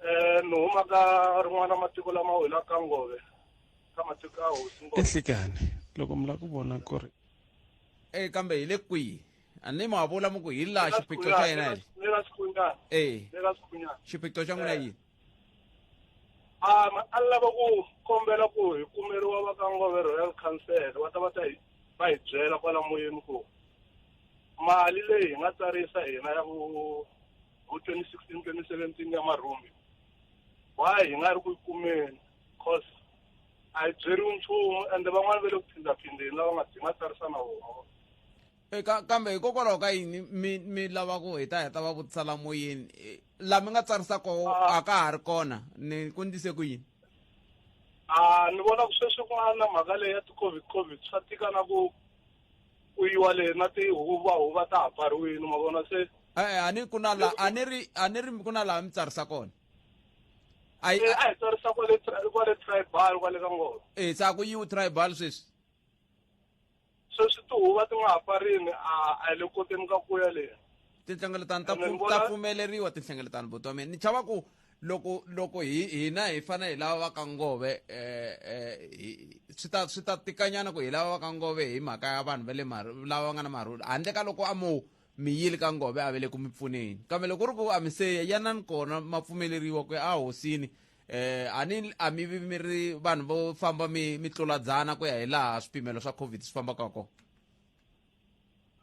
um ni huma ka rin'wana matiko lama wela ka ngove ka matiko a hosi ngove ehlikani loko mi lava ku vona ku ri e kambe hi le kwihi a ni ma vula mu ku hi laha xiphiqo xa yena hi le ka xikhunyana e le ka xikhunyana xiphiqo xa n'wina yini a a lava ku kombela ku hi kumeriwa va ka ngove royal council va ta va ta hi va hi byela kwala moyeni ku mali leyi hi nga tsarisa hina ya ku vo 2016 2017 ya marhumbi why hi nga ri ku yi kumeni cause a yi byeriwi nchumu ende van'wana va le ku phindzaphindeni lava nga hi nga tsarisa na vona eka eh, kambe hikokwalaho ka yini mi mi lava ku hi ta heta va vutisa la moyeni eh, la mi nga tsarisa koho ah. a ka ha ri kona ni ku ndise ku yini a ah, ni vona ku sweswi ku nga na mhaka leyi ya ti-covid covid swa tika na ku ku yiwa le na tihuva huva ta ha pfariwile ma vona se e-e a ni ku na la a ni ri a ni ri ku na laha mi tsarisa kona a yi- a hi tsarisa kwale tri- kwale tribal kwale ka ngolo e se a ku yiwu tribal sweswi sweswi tihuva ti nga ha pfarini a a hi le koteni ka ku ya leyi tinhlengeletano ta Ene ni pfu- vona- ta pfumeleriwa tinhlengeletano boti wa mina ni chava ku loko loko hi hina hi fane hi lava va ka ngove eh, eh, swi ta swi ta tikanyana ku hi lava va ka ngove hi mhaka ya vanhu va le lava va nga na marhulu handle ka loko a mo mi yile ka ngove a vele ku mi pfuneni kambe loko ri ku a mi se yanani kona ma pfumeleriwa ku ya ehosini eh ani a mi vi mi ri vanhu vo famba mi mi tluladzana ku ya hi laha swipimelo swa covid swi fambaka kona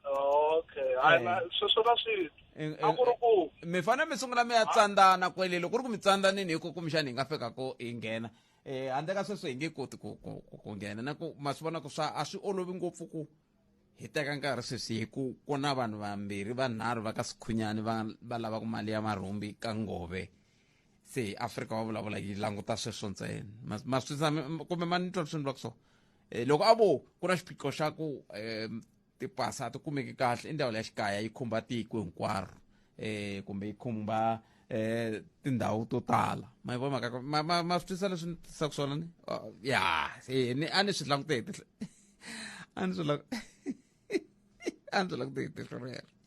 okay hayi na- Eh. sweswo na swi Eh, a ku ri eh, ku mi fane mi sungula mi ya tsandzana kwele loko ku ri ku mi tsandhanini hi ku kumbexani hi nga fika ko hi nghena um handle ka sweswo hi nge koti ku ku- ku- ku nghena na ku ma swi vona ku swa a swi olovi ngopfu ku hi teka nkarhi sweswi hi ku ku na vanhu vambirhi vanharhu va ka sikhunyani va va lavaka mali ya marhumbi ka ngove se hi afrika va vulavula yi languta sweswo ntsena Ma- ma swi tshame- kumbe ma ni twa swi ni vula ku swona e, loko a vo ku na xiphiqo xa ku um tipasi a ti kumeki kahle i ndhawu leya xikaya yi khumba tiko hinkwaro um kumbe yi khumba um tindhawu to tala ma vona mhaka ma ma ma swi twisa leswi ni tisaka swona ni ya ni a ni swi langute hi a ni swi a ndzi la ku ti hitiso rero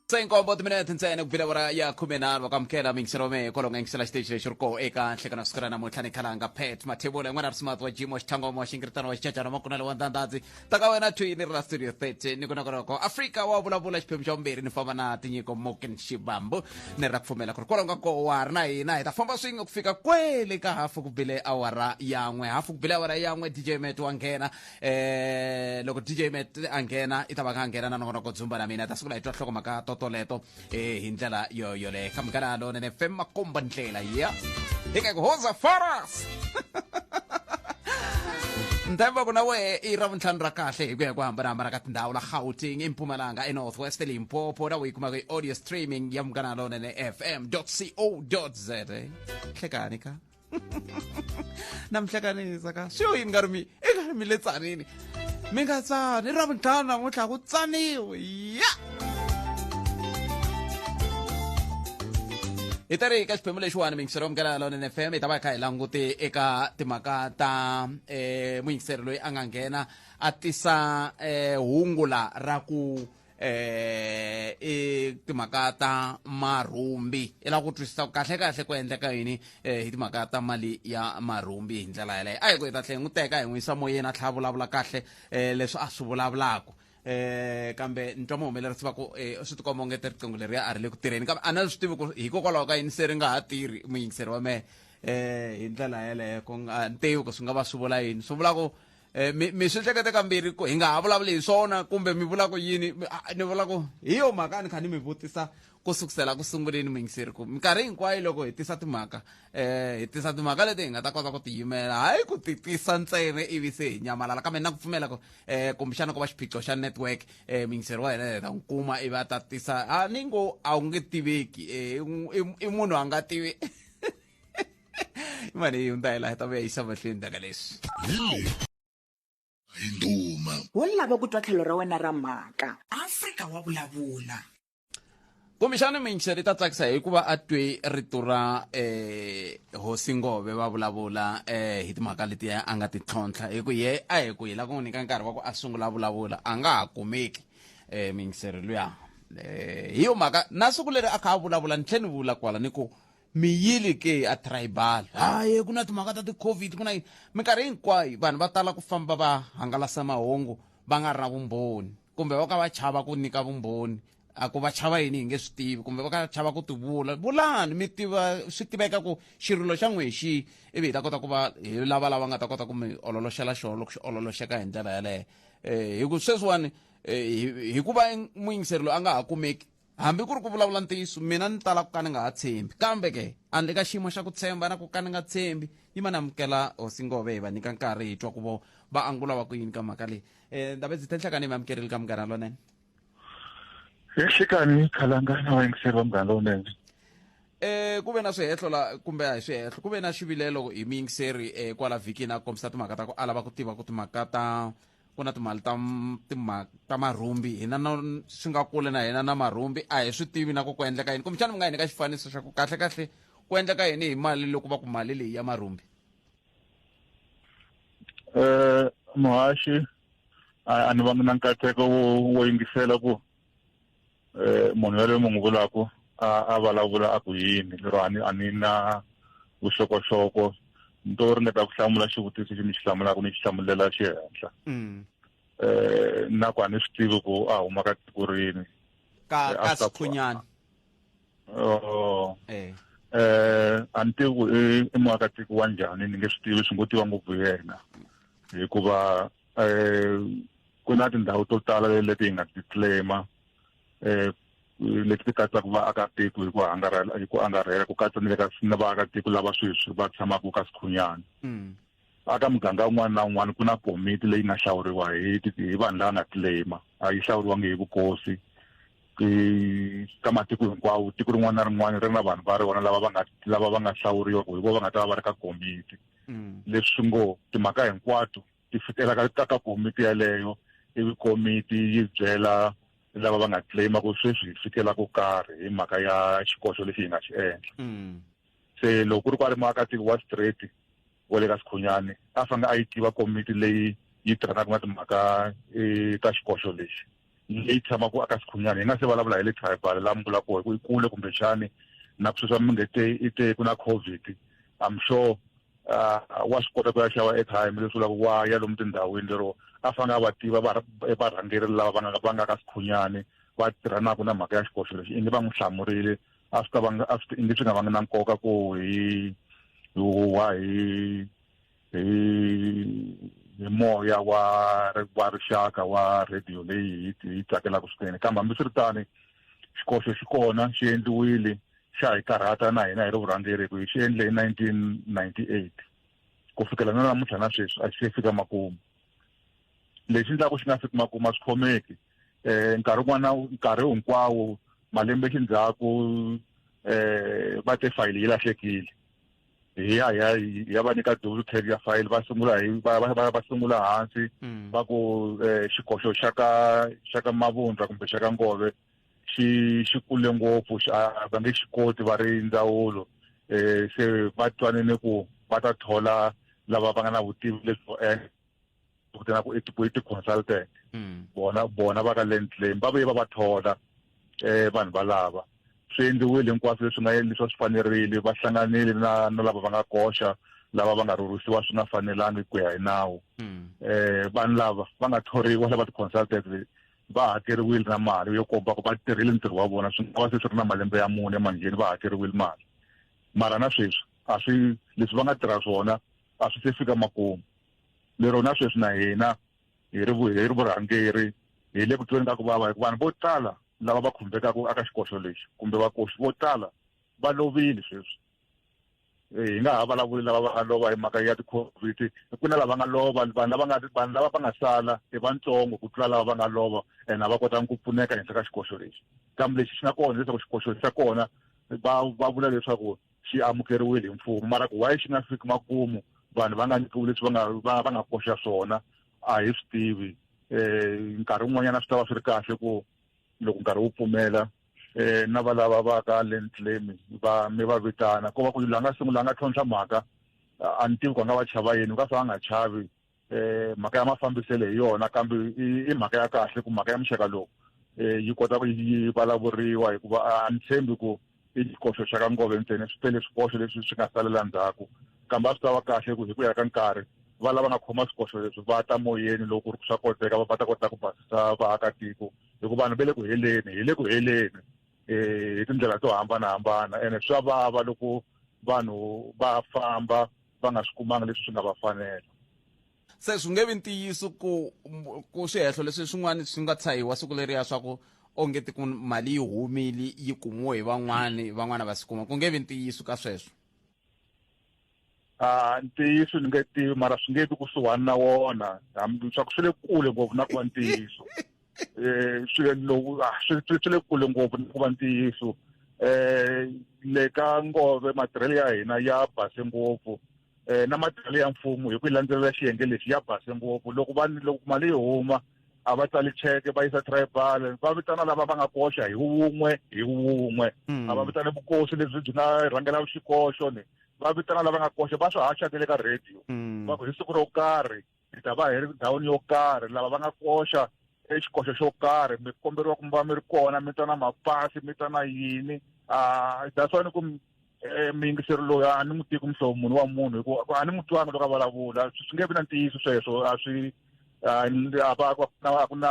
se nkombo timinete ntsena ku vila wara ya khume nharhu wa kamukela mingiselo wa mehe kwalonga yingisela xiteji lexi ri koho eka nhlekana siku ra namuntlha ni khalanga pet mathebula yin'wana ri smart wa jim wa xithangoma wa xingiritano wa xicacana makunala wa ndhandhandzi ta ka wena twini ri la studio 30 ni ku na koloko afrika wa vulavula xiphemu xa vumbirhi ni famba na tinyiko moken xibambu ni ra pfumela ku ri kwalonga koho wa ri na hina hi ta famba swin'we ku fika kwele ka hafu ku bile awara yan'we hafu ku bile awara yan'we dj met wa nghena eh loko dj met a nghena i ta va kha a nghena na nongonoko dzumba na mina ta sungula hi twa nhloko mhaka totoleto eh hi ndlela yo yoleyo kha munghana lonene fem makomba ndlela ya hi ka ku hoza faras ntshemba ku na wehe i ra vuntlhanu ra kahle hi ku ya ku hambanahambana ka tindhawu la gauteng impumalanga enorthwest limpopo na u yi kumaka i-audio streaming ya munghana lonene fm co za hlekani ka na mi hlekanisa ka swi yo yini nga ri mi i nga ri mi le tsanini mi nga tsani ra vuntlhanu namuntlha ku tsaniwe ya hi ta ri eka xiphemu lexiwani mingisero yo mukela lone f m hi ta va hi kha hi langute eka timhaka ta um muyingiseri loyi a nga nghena a tisa um hungu la ra ku eh i timhaka ta marhumbi i lava ku twisisa ku kahle kahle ku endleka yini eh hi timhaka ta mali ya marhumbi hi ndlela yaleyo a hi ku hi ta tlhe hi n'wi teka hi n'wi yisa moyeni a tlhela a vulavula kahle eh leswi a swi vulavulaka eh kambe ni twa muhumelerisi va ku eh swi tikomba onge ti riqingho leriya a ri le ku tirheni kambe a na swi tivi ku hikokwalaho ka yini se ri nga ha tirhi muyingiseri wa mehe eh hi ndlela yaleyo ku nga ni tivi ku swi nga va swi vula yini swi vula ku Eh, mi mi swi hlekete kambirhi ku hi nga ha vulavuli hi swona kumbe mi vula ku yini Mi- a- ni vula ku hi yo mhaka a ni kha ni mi vutisa ku sukusela ku sunguleni mingiseri ku minkarhi hinkwayo loko hi tisa timhaka um hi tisa timhaka leti hi nga ta kota ku tiyimela hayi ku ti tisa ntsena ivi se hi nyamalala kambe na ku pfumela ku um kumbexana ku va xiphiqo xa network um mingiseri wa hina hi ta n'wi kuma ivi a ta tisa a ni ngo a wu nge tiveki um i i munhu a nga tivi Mano, yung tayo lahat ang may isang matlin na galis. Hinduma. wo lava ku twa tlhelo ra wena ra mhaka afrika wa vulavula kumbexana minxi ri ta tsakisa hikuva a twe rito ra eh hosi ngove va vulavula eh hi timhaka letiya a nga ti tlhontlha hi ku ye a hi ku hi la ku n'wi nyika nkarhi wa ku a sungula a vulavula a nga ha kumeki um mingiseri luya um hi yo mhaka na siku leri a kha a vulavula ni tlhe ni vula kwala ni ku mi yile ke a tribal haye ku na timhaka ta ti-covid ku na yini minkarhi hinkwayo vanhu va tala ku famba va hangalasa mahungu va nga ri na vumbhoni kumbe va ka va chava ku nyika vumbhoni a ku va chava yini hi nge swi tivi kumbe va ka chava ku ti vula vulani mi tiva swi tiveka ku xirilo xa n'we hi xihi ivi hi ta kota ku va hi lava lava nga ta kota ku mi ololoxela xona loko xi ololoxeka hi ndlela yeleyo um hi ku sweswiwani hi ku va muyingiseri loyi a nga ha kumeki Hambi ku ri ku vulavula ntiyiso, mina ni tala ku ka ni nga ha tshembi. Kambe ke, andle ka xiyimo xa ku tshemba na ku ka ni nga tshembi, yi ma ni amukela Hosi Ngove hi va nyika nkarhi hi twa ku vo va angula va ku yini ka mhaka leyi. Eh, Ndabedzi Tenhlekani hi mi amukerile ka Munghana Lonene. Tenhlekani hi Khalangana wa yingiseriwa Munghana Lonene. Eh, ku ve na swihehlo la kumbe a hi swihehlo ku ve na xivilelo hi muyingiseri eh, kwala vhikini a kombisa timhaka ta ku a lava ku tiva ku timhaka ta ku na timali ta timali ta marhumbi hina na swi nga kule na hina na marhumbi a hi swi tivi na ku ku endleka yini kumbexana mi nga hi nyika xifaniso xa ku kahle kahle ku endleka yini hi mali loko va ku mali leyi ya marhumbi um muhaxi a ni vangi na nkateko wo yingisela ku eh, munhu yaloyi mi n'wi vulaku a a vulavula a ku yini lero a ni a ni na vuxokoxoko ni to ringeta ku hlamula xivutiso xi ni xi hlamulaka ni xi hlamulela xi henhla um na ku a ni swi tivi ku a huma ka tiko rini ka eh, ka sikhunyana oh eh eh a ni tivi ku i muakatiko wa njhani ni nge swi tivi swi ngo tiva ngopfu yena hikuva um ku na tindhawu to tala leti hi nga ti claima um leti ti katsaka vaakatiko hi ku angarhela hi ku angarhela ku katsa ni le ka ni vaakatiko lava sweswi va tshamaka ka sikhunyana hmm. aka muganga un'wana na un'wana ku na komiti leyi nga hlawuriwa hi hi vanhu lava nga claima a yi hlawuriwangi hi vukosi ka matiko hinkwawo tiko rin'wana na rin'wana ri na vanhu va ri vona lava va nga lava va nga hlawuriwa ku hi vo va nga ta va va ri ka komiti hmm. leswi ngo timhaka hinkwato ti fikela ka ka ka komiti yaleyo ivi komiti yi byela lava va nga claima ku sweswi hi fikela ku karhi hi mhaka ya xikoxo lexi hi nga xi endla mm. se loko ku ri ku a ri muakatiko wa straight wa le ka sikhunyani a fanele a yi tiva komiti leyi yi tirhanaka na timhaka eh, ta xikoxo lexi leyi tshamaka aka xikhunyana hi nga se vulavula hi le tribal laha mi vula koho hi ku i kule kumbexani na ku sweswa mi nge te i te ku na covid i'm sure uh, wa swi kota ku ya xava airtime leswi vulaka wa ya lomu tindhawini lero a fanele a va tiva varhangeri lava va nga va nga ka sikhunyani va tirhanaka na mhaka ya xikoxo lexi ingi va n'wi hlamurile a swi ta va a swi ingi swi nga vangi na nkoka ku hi huwa hi hi hi moya wa wa rixaka wa radio leyi hi yi tsakelaka swinene kambe hambiswiritani xikoxo xi kona xi endliwile xa hi karhata na hina hi ri vurhangeri ku hi xi endle hi 1998 ku fikela na namuntlha na sweswi a xi se fika makumu lexi ndlaku xi nga fiki makumu a swi khomeki um nkarhi wun'wana nkarhi hinkwawo malembe xindzhaku um va te fayili yi lahlekile hi ya hi ya hi ya va nyika double cab ya fayili va sungula hi va va- va va sungula hansi Mm. va ku eh, xikoxo xa ka xa ka mavundla kumbe xa ka ngove xi xi kule ngopfu xi- a va nge xi koti va ri ndzawulo um se va twanene ku va ta thola lava va nga na vutivi lebyo endla ku tena ku i ti-consultant hmm. bona bona va ka land claim va vuye va va thola um vanhu valava swi endliwile hinkwaswo leswi nga leswi swi fanerile va hlanganile na na lava va nga koxa lava va nga rhurhisiwa swi nga fanelangi ku ya hi nawu um vanhu lava va nga thoriwa lava ti-consultant va hakeriwile na mali yo komba ku va tirhile ntirho wa vona swi nga va se swi ri na malembe ya mune emangheni va hakeriwile mali mara na sweswi a swi leswi va nga tirha swona a swi se fika makumu lero na sweswi na hina hi ri hi ri vurhangeri hi le ku tweni ka ku vava hikuva vanhu vo tala lava va khumbekaka aka xikoxo lexi kumbe vakoxi vo tala va lovile sweswi eh, hi nga ha vulavuli lava va nga lova hi mhaka ya ti-covid ku na lava nga lova vanhu lava nga vanhu lava va nga sala i vantsongo ku tlula lava va nga lova and a va kotanga ku pfuneka henhla ka xikoxo lexi kambe lexi xi nga kona leswaku xikoxo xa kona va va vula leswaku xi amukeriwile hi mfumo mara ku why xi nga fiki makumu vanhu va nga nyikiwi leswi va nga va va nga koxa swona a hi swi tivi um nkarhi wun'wanyana swi ta va swi ri kahle ku loko nkarhi wu pfumela um na valava va ka land claim va mi va vitana ko va ku la nga sungula a nga tlhontlha mhaka a ni tivi ku a nga va chava yini u ka fa a nga chavi eh mhaka ya mafambiselo hi yona kambe i mhaka ya kahle ku mhaka ya muxaka lowu eh yi kota ku yi vulavuriwa hikuva a ni tshembi ku i xikoxo xa ka ngove ntsena swi tele swikoxo leswi swi nga salela ndzhaku kambe a swi ta va kahle ku hi ku ya ka nkarhi va lava nga khoma swikoxo leswi va ta moyeni loko ri swa koteka va ta kota ku basisa vaakatiko hikuva vanhu va le ku heleni hi le ku heleni um hi tindlela to hambanahambana ene swa vava loko vanhu va famba va nga swi kumanga leswi swi nga va fanela se swi nge vi ntiyiso ku ku swihehlo leswi swin'wana swi nga tshahiwa siku leriya swa ku onge ti ku mali yi humile yi kumiwe hi van'wani van'wana va swi kuma ku nge vi ntiyiso ka sweswo ah, a ntiyiso ni nge tivi mara swi nge vi kusuhani na wona swa ku swi le kule ngopfu na ku va ntiyiso eh, swilo loku ah, swi swi le kule ngopfu ni ku va ntiyiso um le ka ngove matirhelo ya hina ya base ngopfu um na matirhelo ya mfumo hi ku yi landzelela xiyenge lexi ya base ngopfu loko va loko mali yi huma a va tsali cheke va yisa tribal va vitana lava va nga koxa hi wun'we hi wun'we hmm. a va vitane vukosi lebyi byi nga rhangela xikoxo ni va vitana lava nga koxa va swi haxa ke le ka radio hmm. va ku hi siku ro karhi hi ta va hi ri ndhawini yo karhi lava va nga koxa exikoxo xo karhi mi komberiwa ku mi va mi ri kona mi ta na mapasi mi ta na yini um that's why ni ku eh, muyingiseri loyi a ni n'wi tiki muhlovo munhu wa munhu hikuva a ni n'wi twanga loko a vulavula swi nge vi na ntiyiso sweswo a swi a va ku na a ku na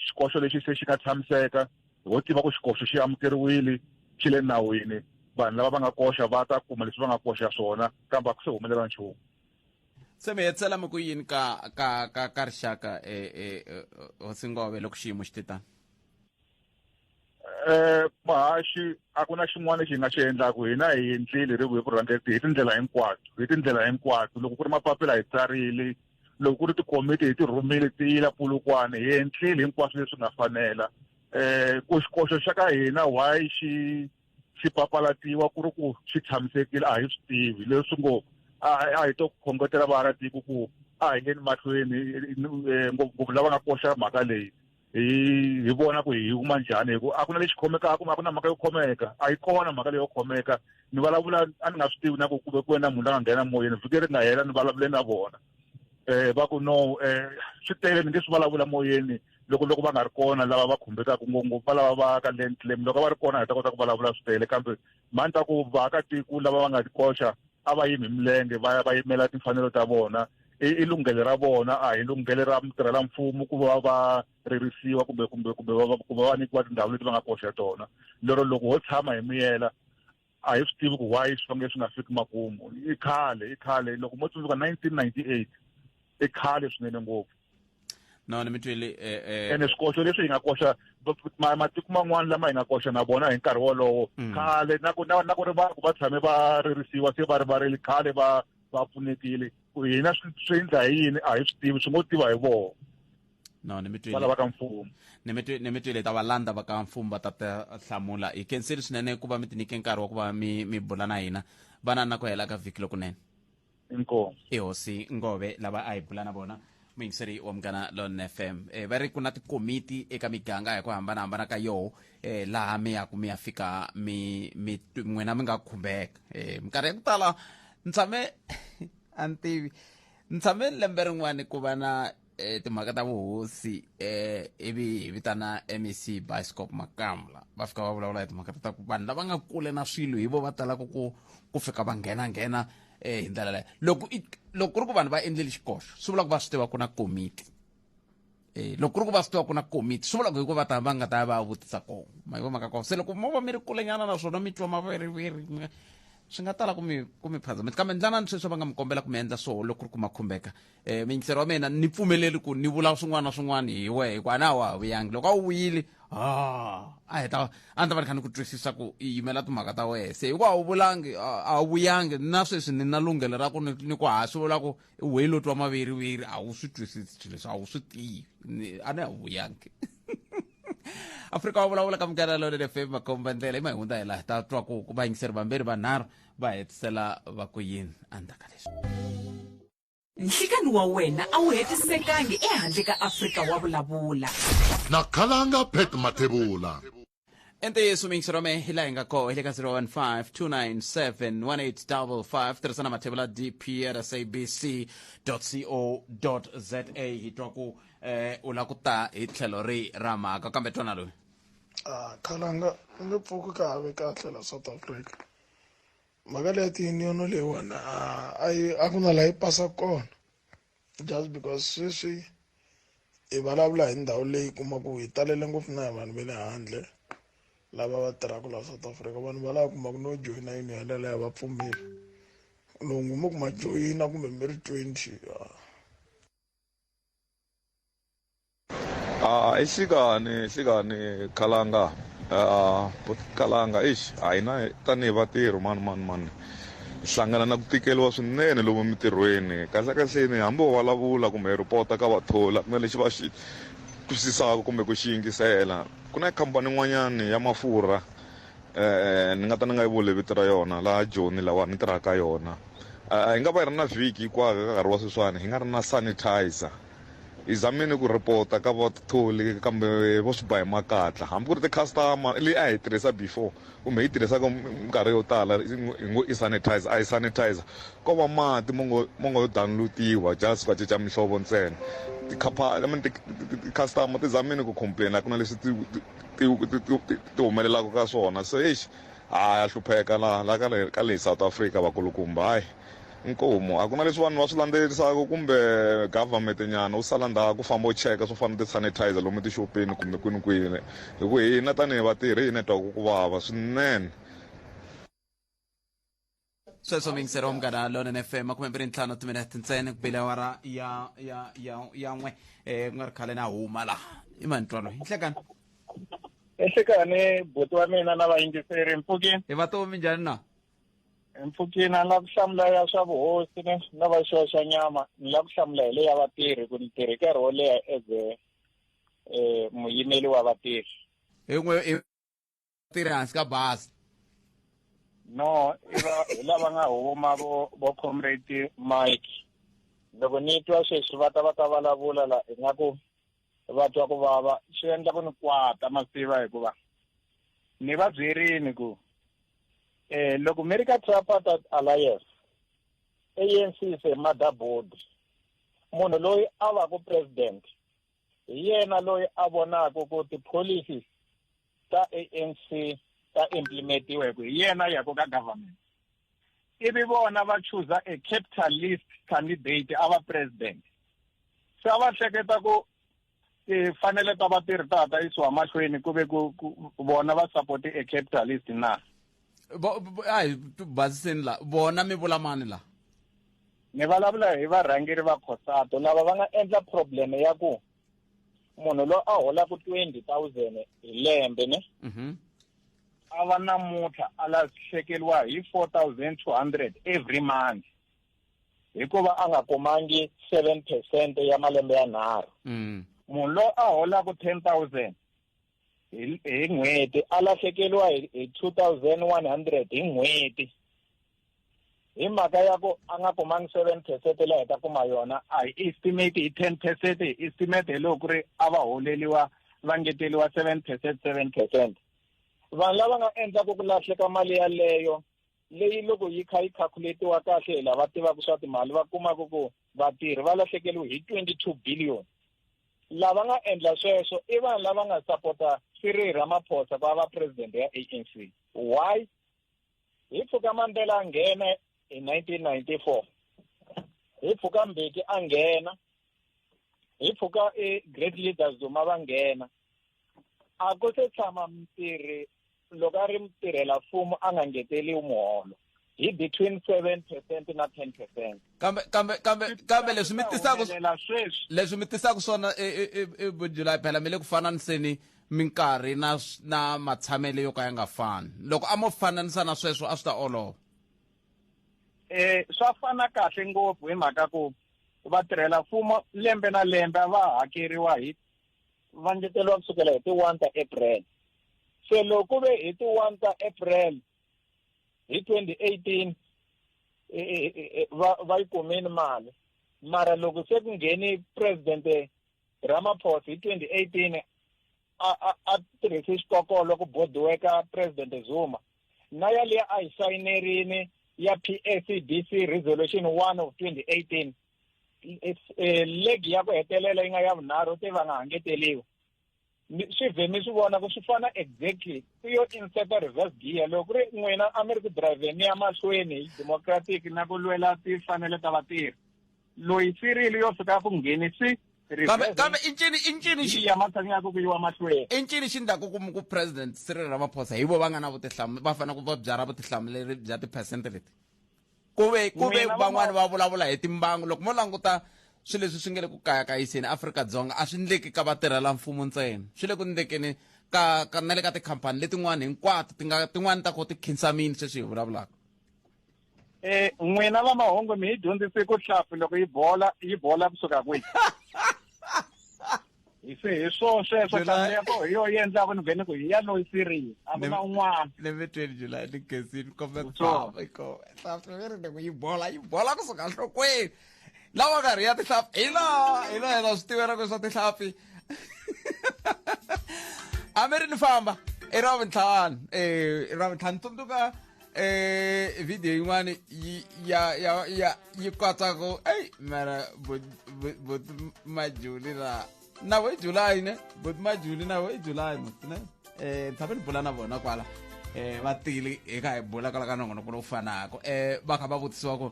xikoxo lexi se xi nga tshamiseka hi wo tiva ku xikoxo xi amukeriwile xi le nawini vanhu lava va nga koxa va ta kuma leswi va nga koxa swona kambe a ku se humelela nchumu se mi hetsela mi ku yini ka ka ka ka rixaka e e hosingove loko xiyimo xi titani eh mahaxi a ku na xin'wana lexi hi nga xi endlaku hina hi endlile ri hi vurhangeri hi tindlela hinkwato hi tindlela hinkwato loko ku ri mapapila hi tsarile loko ku ri tikomiti hi ti rhumile ti yila pulukwana hi endlile hinkwaswo leswi nga fanela eh koxikoxo xa ka hina why xi swi papalatiwa ku ri ku swi tshamisekile a hi swi tivi leswi ngo a hi to khongotela vaakatiko ku a hi ngeni mahlweni eh, ngopfungopfu lava nga koxa mhaka leyi hi hi vona ku hi huma njhani hi ku a ku na lexi khomekaka a ku na mhaka yo khomeka a yi kona mhaka leyo khomeka ni vulavula a ni nga swi tivi na ku kuve ku wena munhu la nga nghena moyeni vhiki ri nga hela ni vulavule na vona um va ku no um swi tele ni nge swi vulavula moyeni loko loko va nga ri kona lava va khumbekaka ngopfu va lava va ka land claim loko va ri kona hi ta kota ku vulavula swi tele kambe mani ta ku vaakatiko lava va nga tikoxa a va yimi milenge va ya va yimela timfanelo ta vona i lunghele ra vona a hi lunghele ra mutirhela mfumo ku va va ririsiwa kumbe kumbe kumbe va ku va va nyikiwa tindhawu leti va nga koxa tona lero loko ho tshama hi miyela a hi swi tivi ku why swi fanele swi nga fiki makumu i khale i khale loko mo tsundzuka 1998 i khale swinene ngopfu no ni mi twile eh, eh, ene swikoxo leswi hi nga koxa ma- matiko man'wana lama hi nga koxa na vona hi nkarhi wolowo Mm. khale na ku na na ku ri va ku va tshame va ririsiwa se va rivarile khale va va pfunekile ku hina swi swi endla hi yini a hi swi tivi swi ngo tiva hi vona no ni mi twile valava ka mfumo ni mi twi- ni mi twile ta valanda va ka mfumo va ta ta hlamula hi khenseli swinene ku va mi tinike nkarhi wa ku va mi mi bula na hina vana na ku hela ka vhiki lokunene inkomo i hosi ngove lava a hi bula na vona muyingiseri wa munghana lon fm e, va ri ku na tikomiti eka miganga hi ku hambanahambana ka yoho e, laha mi yaku mi ya fika mi mi tw- n'wina mi nga khumbeka e, minkarhi ya ku tala ni tshame a ni tivi ni tshame lembe rin'wani ku va na e timhaka ta vuhosi eh ivi hi vitana mec bioscope makamla va fika va vulavula hi timhaka ta ku vanhu lava nga kule na swilo hi vo va talaka ku ku fika va nghena nghena eh hi ndlela leyo loko loko ku ri ku vanhu va endleli xikoxo swi vula ku va swi tiva ku na komiti eh loko ku ri ku va swi tiva ku na komiti swi vula ku hikuva ta va nga ta va vutisa kona ma yi vomaka kona se loko mo va mi ri kulenyana naswona mi twa maveriveri swi nga tala ku mi ku mi phazamisa kambe ndlanani sweswi va nga mi kombela ku mi endla swoho loko ku ri ku ma khumbeka e, mingisero wa mina ni pfumeleli ku ni vula swin'wana na swin'wana hi wehe hikuva a na wa ha vuyangi loko a wu vuyile ah, a heta a ni ta va ni kha ni ku twisisa ku i yimela timhaka ta wehe se hikuva a wu vulangi a wu vuyangi na sweswi ni na lunghelo ra ku ni ku ha swi vula ku wehi lo twa maviriwiri a wu swi twisisi swilo leswi a wu swi tivi a ni a wu vuyangi afrika wa vulavula ka mugana lone le fm makomba ndlela i mahundza hi laha ta twa ku vayingiseri vambirhi vanharhu va hetisela va ku yini endzhaku ka leswi Nhlikani wa wena a wu hetisekangi ehandle ka Afrika wa vulavula. Na Khalanga Pat Mathebula. I ntiyiso mixi rome hi laha hi nga koho hi le ka 0152971855 tirhisa na mathevula dpr sabc co za hi twa ku eh, u lava ku ta hi tlhelo ri ra mhaka kambe twana loyi Ah, khalanga u nge pfuki ka have kahle la south africa mhaka leya tiyuniyono leyiwani a ku na laha yi pasa kona just because sweswi hi vulavula hi ndhawu leyi kumaku hi talele ngopfu na hi vanhu va le handle lava va tirhaka laha south africa vanhu va lava kumaka no joyina yuniyono yaleyo va pfumeli loko mo kuma joyina kumbe mi ri twenty Ah, isikani sikani khalanga ah, but khalanga eish a hi na tanihi vatirhi mani mani mani hi hlangana na ku tikeriwa swinene lomu emitirhweni kahlekahleni hambi wo vulavula kumbe hi rhipota ka vathola ku na lexi va xi twisisaka kumbe ku xi yingisela ku na khampani yin'wanyani ya mafurha eh ni nga ta ni nga yi vuli vito ra yona laha joni lawa ni tirhaka ka yona Ah, hi nga va hi ri na vhiki hikwako eka nkarhi wa sweswiwani hi nga ri na sanitizer hi zamile ku report-a ka vatholi kambe vo swi ba hi makatla hambi ku ri ti-customer leyi a hi tirhisa before kumbe yi tirhisaka minkarhi yo tala hi ngo i sanitizer a yi sanitizer ko va mati mo ngo mo ngo download-iwa just va cinca mihlovo ntsena tikhaphani mani ti-customer ti zamile ku complain-a ku na leswi ti ti ti ti ti humelelaka ka swona se exi ha ya hlupheka laha la ka le ka le South Africa vakulukumba hayi Nkomu, a ku na leswi vanhu va swi landzelerisaka kumbe government nyana u sala ndhawu ku famba u cheka swo fana na ti-sanitizer lomu tixopeni kumbe kwini kwini hi ku hina tanihi vatirhi hi hina hi twaku ku vava swinene sweswo mi yingiseriwa munghana lonene fm makume mbirhi ntlhanu wa timinete ntsena ku bile awara ya ya ya ya n'we um ku nga ri khale na huma laha i manitwalo yi nhlekani ehlekani buti wa mina na vayingiseri mpfukini hi vatomi njhani na mpfukini a ni lava ku hlamula ya swa vuhosi ni ni lava xiwa xa nyama ni lava ku hlamula hi le ya vatirhi ku ni tirhe nkarhi wo leha as a um muyimeli wa vatirhi hi n'we i tirhi hansi ka basa no i va hi lava nga huma vo vo comrade mike loko ni twa sweswi va ta va ta vulavula la ingaku va twa ku vava swi endla ku ni kwata ma tiva hikuva ni va byerini ku eh loko mi ri ka tripartite alliance ANC se motherboard munhu loyi a va ku president hi yena loyi a vonaka ku ti-policies ta anc ta implementiwa hi ku hi yena yako ka government ivi vona va chuza a capitalist candidate a va president se a va hleketa ku tifanele ta va ti ri ta ta yisiwa mahlweni ku ve ku vona va support-e a capitalist na a hi basiseni la vona mi vula mani la ni vulavula hi varhangeri va khosato lava va nga endla problem ya ku munhu loyi a holaka twenty thousand hi lembe ne mhm. a va namuntlha a lahlekeriwa hi four thousand two hundred every month hikuva a nga kumangi seven percent ya malembe yanharhu mm. munhu loyi a holaka ten thousand hi n'hweti a lahlekeriwa hi two thousand one hundred hi n'hweti hi mhaka ya ku a nga kumangi seven percent leyi hi ta kuma yona a hi estimate hi ten percent hi estimate hi loko ku ri a va holeliwa va ngeteriwa seven percent seven percent vanhu lava nga endlaka ku lahleka mali yaleyo leyi loko yi kha yi calculatiwa kahle hi lava tivaka swa timali va kumaka ku Vatirhi va lahlekeriwe hi 22 billion. Lava nga endla sweswo i vanhu lava nga sapota Cyril Ramaphosa va va president ya ANC. Why? Hi pfuka Mandela a nghena hi 1994. Hi pfuka Mbeki a nghena. Hi pfuka e great leaders Zuma va nghena. A ku se tshama mutirhi loko a ri mutirhela mfumo a nga ngeteliwi muholo hi between 7 percent na 10 percent kambe kambe kambe kambe leswi mi tisaka sweswi leswi mi tisaka swona e, e, e, e bujulayi phela mi le ku fananiseni minkarhi na na matshamelo yo ka ya nga fani loko a mo fananisa na sweswo a swi ta olova eh swa fana kahle ngopfu hi mhaka ku vatirhela mfumo lembe na lembe va hakeriwa hi va ngeteriwa kusukela hi ti-one ta april Se loko ve hi ti 1 ta April hi 2018 e, e, e, va va yi kumeni mali mara loko se ku ngheni president Ramaphosa hi 2018 a a a tirhise xikokolo ku bodiweka president Zuma na yaliya a yi sayinerini ya PACDC resolution 1 of 2018 legi ya ku hetelela yi nga ya vunharhu te va nga ha ngeteliwi swi vhe mi swi vona ku swi fana exactly ku yo inseta reverse gear loko ku ri n'wina a mi ri ku drivheni ya mahlweni hi democratic na ku lwela tifanele ta vatirhi loyi sirili yo fika ku ngheni swi kambe i ncini i ncini xi ya matshangi ya ku ku yiwa mahlweni i ncini xi ndlaku ku ku president Cyril Ramaphosa hi vo va nga na vutihlamuleri va fanele ku va byala vutihlamuleri bya tiphesente leti ku ve ku ve Mina van'wani va vulavula hi timbangu loko mo languta swi leswi swi nge le ku kayakayiseni afrika-dzonga a swi ndleki ka vatirhela mfumo ntsena swi le ku ndlekeni ka ka na le ka tikhampani letin'wani hinkwato ti nga tin'wani ta ko ti khinsamini sweswi hi vulavulaka eh n'wina va mahungu mi hi dyondzise ku hlampfi loko yi bola yi bola kusuka kwihi hi se hi swo sweswo tata ya koho hi yo yi endlaka ni vhene ku hi ya loyi siriya a ku na un'wana ni ve tweni july ni gezini kombe tsava iko tsava ni ri ni ku yi bola yi bola kusuka nhlokweni lawa karhi ya tihlapi hi laha hi laha yena swi tivela ku swa tihlapi a mi ri ni famba i ra vuntlhanu i ra vuntlhanu tsundzuka ee vidiyo yi n'wana yi ya ya ya yi kwatsa ku eyi mara boti majuli la na vo i julayi ne boti majuli na vo i julayi ne um tshame ni bula na vona kwala um va tile hi ka hi bula kwala ka nongonoko lowu fanaka um va kha va vutisiwa ku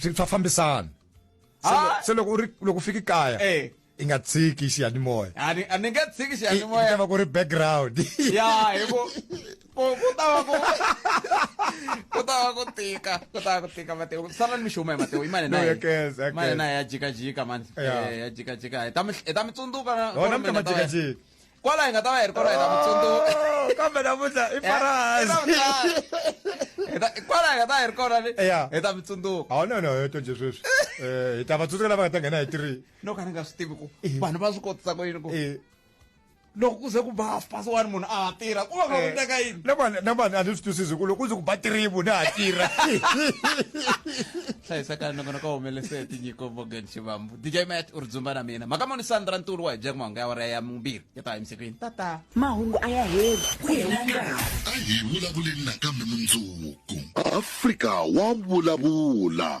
swi fa fambisana ah! se loko u ri loko u fiki kaya eh. i nga tshiki xiyanimoya a ni nga tshiki xiyanimoya ta va ku ri background ya hi ku ku ta va ku ku ta va ku tika ku ta va ku tika mateo ku sala ni mixumo ya mateo i mani naye mani naye ya jikajika mani eh, ya jikajika hi ta mi tsundzuka na mi ta jikajika kwala hi nga ta va hi ri kona hi ta ku tsundzuka kambe namuntlha i kwala hi nga ta hi ri kona ni hi ta mi tsundzuka a no no yo tonje sweswi um hi ta va tsundzuka lava nga ta nghena hi tiri no ka ni nga swi tivi ku vanhu va swi kotisa ku yini ku loko ku ze ku ba half past one munhu a ha tirha ku va ka ku teka yini na vanhu a ni swi twisisi ku loko ku ze ku ba tiribu ni ha tirha hlayisekani loko ni ka humelese hi tinyiko morgan xivambu dj mat u ri dzumba na mina mhaka moni sandra ntulu wa hi byela ku mahungu ya wara ya mumbirhi ya ta emisekweni tata mahungu a ya heli ku hela nkarhi a hi vulavuleni nakambe mundzuku afrika wa vulavula